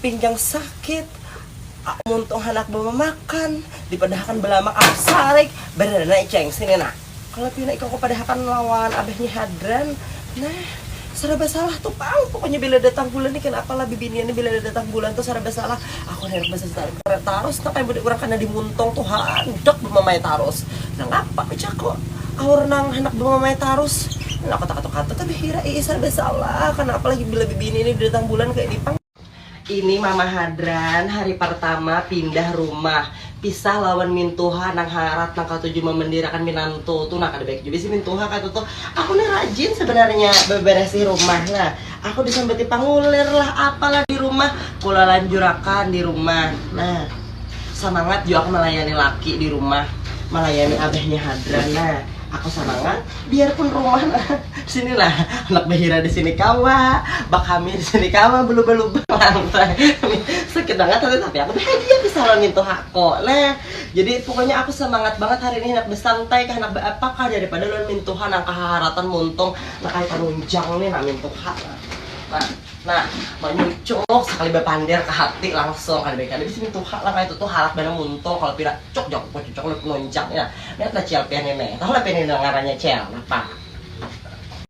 pinggang sakit, muntung handak bamamakan, dipadahakan balamak api sarik, barada nah iceng sini nah. Kalau pina ikam kupadahakan lawan abah ni hadran, nah saraba salah tu pang, pokoknya bila datang bulan ni kanapa lah bibinian ni bila datang bulan tu saraba salah, aku ni handak basasar tarus nah kaya budak urang kada dimuntung tu handak bamamai tarus, nangapa ujaku. Aur nang handak bamamai tarus. Nang aku takatu katu tapi hira iih sarba salah karna apalagi bila bibini ini datang bulan kaya di pang. Ini mama hadran hari partama pindah rumah pisah lawan mintuha nang harat nang katuju mamandirakan minantu tu nah kada baik jua bisi mintuha katutu aku ni rajin sebenarnya babarasih rumah nah Aku disambati pangulir lah apalah di rumah, kula lanjurakan di rumah. Nah, samangat jua aku malayani laki di rumah, malayani abahnya Hadran. Nah, aku samangat biarpun rumah nah sini nah anak bahira di sini kawa, bakami di sini kawa belubang-lubang lantai. Sakit banget hati tapi aku bahagia bisa lawan mintu hako. Nah, jadi pokoknya aku samangat banget hari ini handak besantai kah, handak beapa kah daripada lawan mintuha nang kahaharatan muntung Nah kaya panunjang nih nah mintuk ha nah nah manyucuk sakali bapander ka hati langsung kada baik kada bisi mintuk ha lah kaya tutu halat banar muntung kalu pina cuk jar ku cucuk ulun panunjang nih nah lihat lah cel pian ini tahu lah pian ini ngarannya cel napa.